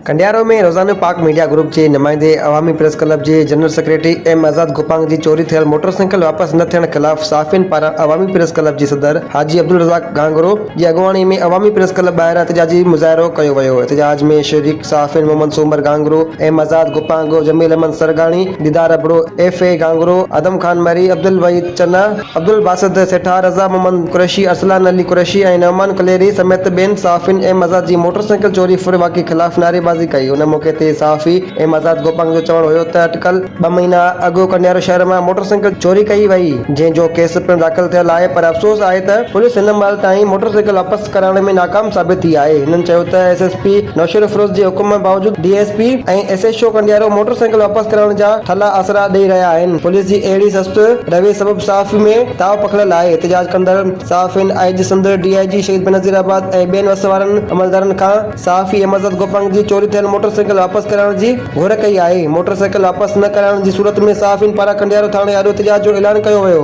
کنڊيارو ۾ روزانو Pak media group جي نمائندي عوامي پريس ڪلب جي general secretary M Azad Gopang جي چوري ٿيل موٽر سائيڪل واپس نه ٿيڻ خلاف صحافين پاران عوامي پريس ڪلب جي صدر حاجي عبدالرزاق گهانگهرو جي اڳواڻي ۾ عوامي پريس ڪلب ٻاهران احتجاجي مظاهرو ڪيو ويو احتجاج ۾ شريڪ صحافين محمد سومر Ghanghro M Azad Gopang Jamil Ahmed Sargani Didar Abro F A Ghanghro Adam Khan Marri Abdulwahid Channa Abdulbasit Seetha, Raza Muhammad Qureshi, Arsalan Ali Qureshi ۽ Noman Kaleri سميت ٻين صحافين ايم آزاد جي موٽر سائيڪل چوري ڦر واقعي خلاف نعريبازي ڪئي ان موقعي تي صحافي ايم آزاد گوپانگ جو چوڻ هيو ته اٽڪل ٻه مهينا اڳ ڪنڊيارو شهر مان موٽر سائيڪل چوري ڪئي وئي جنهن جو ڪيس پڻ داخل ٿيل آهي پر افسوس آهي ته پوليس هن مهل تائين موٽر سائيڪل واپس ڪرائڻ ۾ ناڪام ثابت ٿي آهي هنن چيو ته ايس ايس پي نوشيروفيروز جي حڪم باوجود D S P ۽ S H O Kandiaro motorcycle واپس ڪرائڻ جا ٿلها آسرا ڏئي رهيا آهن. پوليس جي اهڙي سست رويي سبب صحافي ۾ تاء پکڙيل آهي، احتجاج ڪندڙ صحافين آء جي سنڌ، ڊي آء جي شهيد بينظير آباد ۽ ٻين وس وارن عملدارن کان صحافي احمدزاد گوپانگ جي چوري ٿيل موٽر سائيڪل واپس ڪرائڻ جي گهر ڪئي آهي، موٽر سائيڪل واپس نه ڪرائڻ جي صورت ۾ صحافين پاران کنڊيارو ٿاڻي آڏو احتجاج جو اعلان ڪيو ويو.